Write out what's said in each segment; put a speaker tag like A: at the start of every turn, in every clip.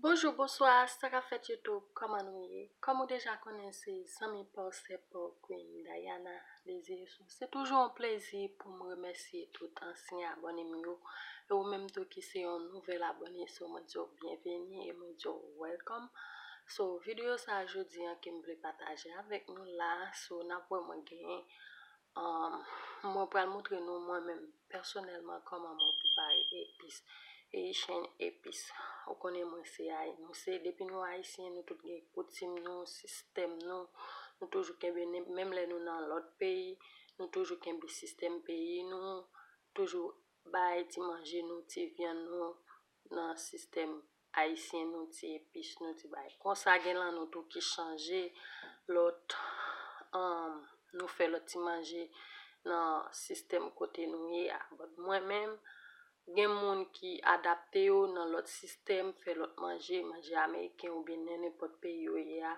A: Bonjou bonswa sa kap fèt YouTube kòman nou ye kòm ou deja konnen se zanmi paw sè paw Queen Dayana Desiré-Soul se toujou yon plezi poum remèsye tout ansyen abòne m yo e ou menm tou ki se yon nouvèl abòne so mwen diw byenveni e mwen diw welcome so videyo sa jodi an kem vle pataje avèk nou la so nap wè mwen gen Umm mwen pral moutre nou mwen menm pèsonèlman kòman mwen prepare epis, Haitian epis. Ou konnen mwen se Haï, nou se depi nou Ayisyen nou tout gen koutim nou, sistèm nou, nou toujou kenbe nen menm lè nou nan lòt peyi, nou toujou kenbe sistèm peyi nou, toujou bay ti manje nou, ti vyann nou nan sistèm Ayisyen nou ti epis nou ti bagay konsa gen lan nou tou ki chanje lòt humm nou fè lòt ti manje nan sistèm kote nou ye a but mwen menm gen moun ki adapte yo nan lòt sistèm fè lòt manje manje ameriken oubyen nenenpòt peyi yo ye a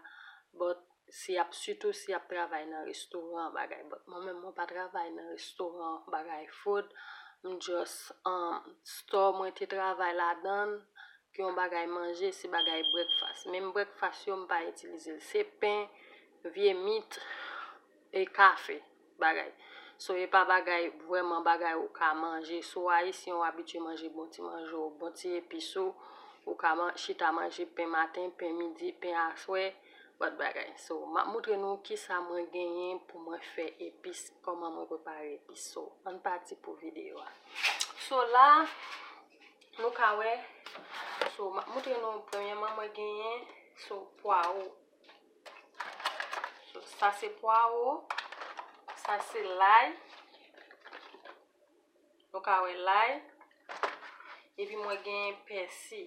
A: but Si yap sitou si yap travay nan restoran bagay but mwen menm mwen pa travay nan restoran bagay food m just um store mwen te travay ladann ki yon bagay manje se bagay breakfast menm breakfast yo m pa itilize l se pen vye mit e kafe. bagay so epa bagay vrèman bagay ou ka manje sou ayisyen ou abitye manje bon ti manje w bon ti epis ou ou ka man chita manje pen maten pen midi pen aswè but bagay so map moutre nou kisa mwen genyen pou mwen fè epis kòman mwen prepare epis so ann pati pou video a so la nou ka wè so map moutre nou premyèman mwen genyen so pwawo. Sa se pwawo, sa se lay. Nou ka wè lay. E pi mwen gen pèsi.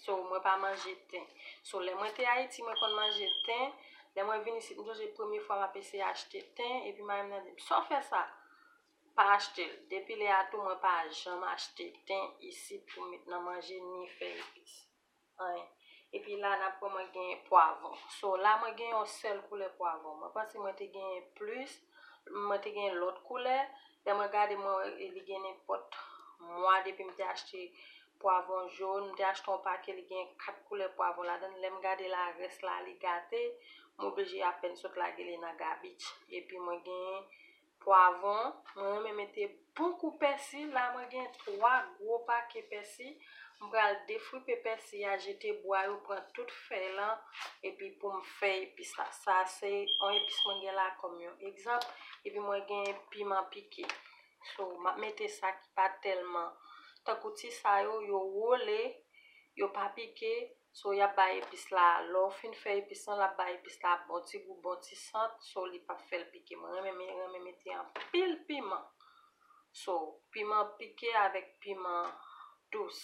A: So mwen pa manje ten. So lè mwen te Ayiti mwen konn manje ten. Lè mwen vin isit m sonje premye fwa m ap eseye achte ten. E pi mari m nan di m, sa w fè sa? Pa achte l. Depi lè a tou mwen pa janm achte ten isit pou m met nan manje ni fè epis. anyen. Epi la nap wè mwen gen pwavon. So la mwen gen yon sèl koulè pwavon. Mwen panse mwen te gen plis, mwen te gen lòt koulè. Lè mwen gade mwen wè li gen nenpòt mwa depi m te achte pwavon jon. M te achte yon pake li gen 4 koulè pwavon ladan l. Lè m gade la rès la li gate. M oblije apèn sot lage li nan gabich. Epi mwen gen Pwavon, mwen renmen mete bon kou pèsi, la mwen gen 3 gwo pake pèsi, m pral defripe pèsi a jete bwa yo pran tout fèy lan epi poum fè epis la, sa se yon epis mwen gen la kòm yon egzanp, epi mwen gen piman pike so map mete sa ki pa tèlman tankou ti sa yo, yo wole yo pa pike so yap bay epis la lèw fin fè epis lan lap bay epis la bon ti gou bon ti sant so li pap fèl pike mwen renmen mete anpil piman so piman pike avèk piman dous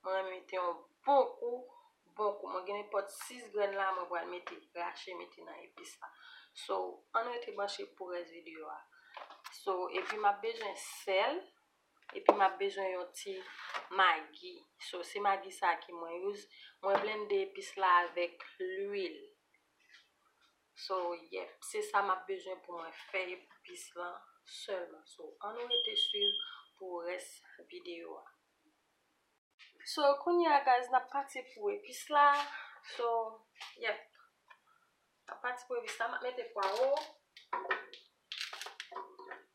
A: mwen renmen mete yon bon kou bon kou mwen gen nenpòt 6 grenn la mwen pral mete rache mete nan epis la so ann rete branche pou rès videyo a so epi map bezwen sèl Epi map bezwen yon ti magi. So se magi sa ki mwen use. Mwen blende epis la avèk lwil. So yep se sa map bezwen pou mwen fè epis lan sèlman. So an nou rete swiv pou rès video a. So kounye a guys nap pati pou epis la. So yep nap pati pou epis la. Map mete pwawo.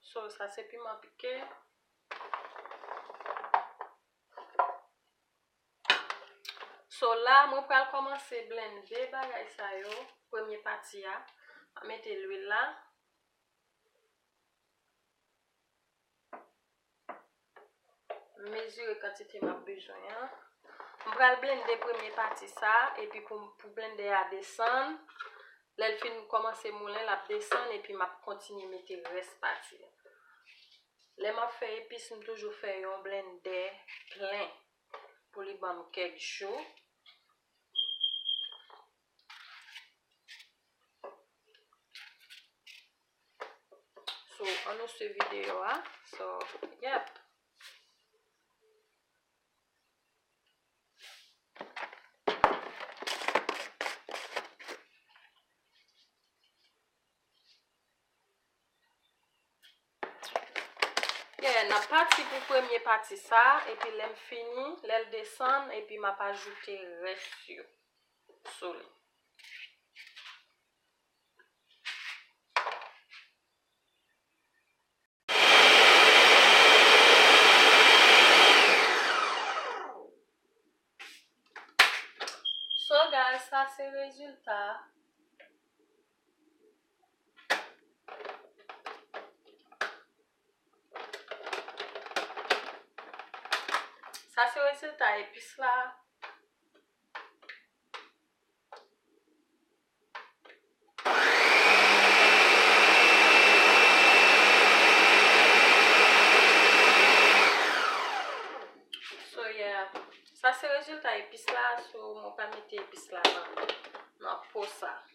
A: So sa se piman pike. So la mwen pral komanse blende bagay sa yo. Premye pati a. Mwen mete lwil la. M mezire kantite m ap bezwen an. M pral blende premye pati sa a epi pou blende a desann. Lè l fin kòmanse moulen, l ap desann epi m ap kontinye mete rès pati yo. Lè m ap fè epis, m toujou fè yon blende plen pou li ban m kèk jou. So an nou swiv videyo a. So yep. Yeah, n ap pati pou premye pati sa a, epi lè m fini, lè l desann, epi m ap ajoute rès yo sou li. So guys, sa se rezilta a. Sa se rezilta epis la. So yeah. Sa se rezilta epis la. So mwen pa mete epis la nan nan po sa.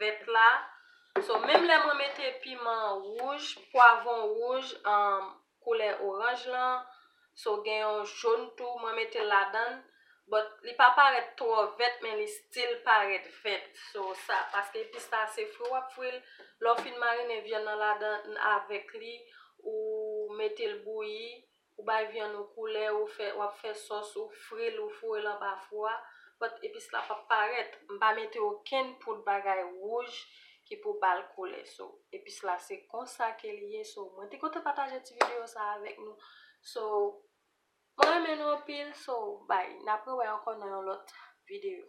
A: vèt la so menm lè mwen mete piman wouj pwavon wouj um koulè oranj lan so gen yon jaune tou mwen metel ladann but li pa parèt twò vèt men li still parèt vèt so sa paske epis la se fri wap fril lè w fin marinen vyann nan ladann avèk li ou metel bouyi ou bay vyann ou koulè, ou fè, w ap fè sòs, ou fri l, ou foure l anba fou a, pòt epis la p ap parèt. M pa mete okenn poud bagay wouj ki pou ba l koulè. So, epis la se konsa ke li ye. So, mwen te kontan pataje ti videyo sa avèk nou. So, mwen renmen nou anpil. So, bye. N ap rewè ankò nan yon lòt videyo.